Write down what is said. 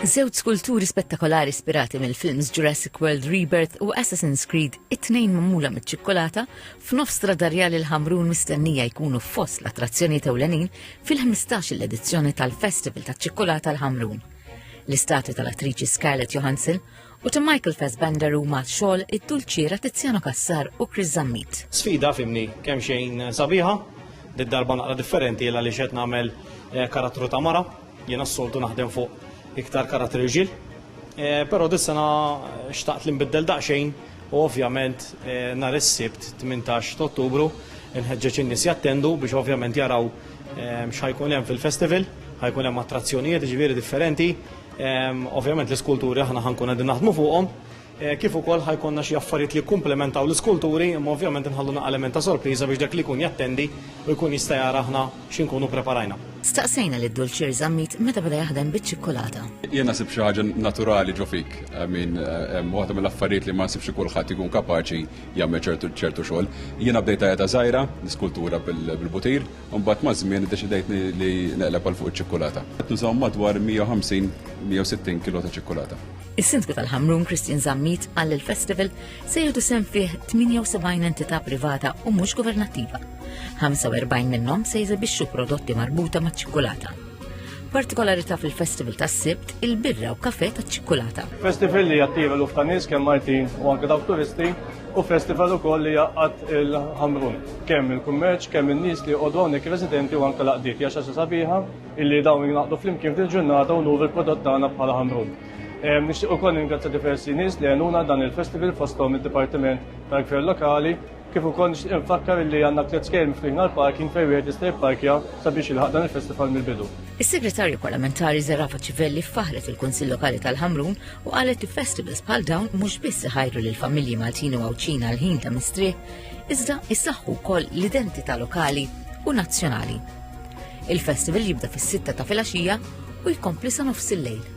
Żewġ skulturi spettakolari ispirati mill-films Jurassic World Rebirth u Assassin's Creed it-tnejn magħmula miċ-ċikkolata f'nofs tradarjal il-Ħamrun mistennija jkunu fost l-attrazzjonijiet ewlenin fil-15 l-edizzjoni tal-Festival taċ-Ċikkolata l-Ħamrun. L-istatwi tal-attriċi Scarlett Johansson u ta' Michael Fassbender huma xogħol id-dulċiera Tiziano Cassar u Chris Zammit. Sfida fimni kemm xejn sabiħa, did darba naqra differenti illa li xed nagħmel eh, karattru ta' mara, jiena s-soltu naħdem fuq iktar karattri rġil. Eh, però dis-sena xtaqt li nbiddel daqsxejn u ovvjament eh, nhar is-Sibt 18 ta' Ottubru nħeġġeġ in-nies jattendu biex ovvjament jaraw x'ħajkun hemm fil-festival, ħajkun hemm attrazzjonijiet ġifieri differenti, Ovvjament l-iskulturi aħna ħankun qegħdin naħdmu fuqhom, eh, kif ukoll ħajkonna xi affarijiet li jkumplementaw l-iskulturi, imma ovvjament inħallu element ta' sorpriża biex dak li jkun jattendi u jkun jista' jara aħna x'inkunu preparajna. Staqsejna lil Dulċir Zammit meta beda jaħdem biċ-ċikkulata. Jien nasib xi ħaġa naturali ġo fik, min eh, waħda mill-affarijiet li ma nsibx kulħadd ikun kapaċi jagħmel ċertu xogħol. Jiena bdejt ta' żgħira, niskultura bil-butir, Imbagħad maż-żmien iddeċidejt li neqleb għal fuq iċ-ċikkulata. Qed nużaw madwar 150, 160 kilo ta' ċikkulata. Is-Sindku tal-Ħamrun Christian Zammit qal li l-festival se jieħdu sehem fih 78 entità privata u mhux governattiva. 45 minnhom se jeżibixxu prodotti marbuta maċ-ċikkulata. Partikolarità fil-festival tas-Sibt, il-birra u kafe taċ-ċikkulata. Festival li jattira luf ta' nies kemm Maltin u anke dawk turisti u festival ukoll li jaqgħad il-Ħamrun. Kemm il-kummerċ, kemm in-nies li jqogħdu hawnhekk residenti u anke l-għaqdiet. Hija xi sabiħa illi dawn jingħaqdu flimkien f'din ġurnata u nuru l-prodott tagħna bħala Ħamrun. Ehm, nixtieq ukoll ningrazzja diversi nies li għenuna dan il-festival fosthom id-Dipartiment tal-Gvern Lokali Kif ukoll nixtieq infakkar li għandna tliet skejjel miftuħin għall-parking fejn wieħed jista' jipparkja sabiex jilħaq dan il-festival mill-bidu. Is-Segretarja Parlamentari Zerafa Civelli faħħret il-Kunsill Lokali tal-Ħamrun u qalet li festivals bħal dawn mhux biss iħajru lill-familji Maltin u Għawdxin għall-ħin ta' mistrieħ, iżda jsaħħu wkoll l-identità lokali u nazzjonali. Il-festival jibda fis-sitta ta' filgħaxija u jkompli sa nofs il-lejl.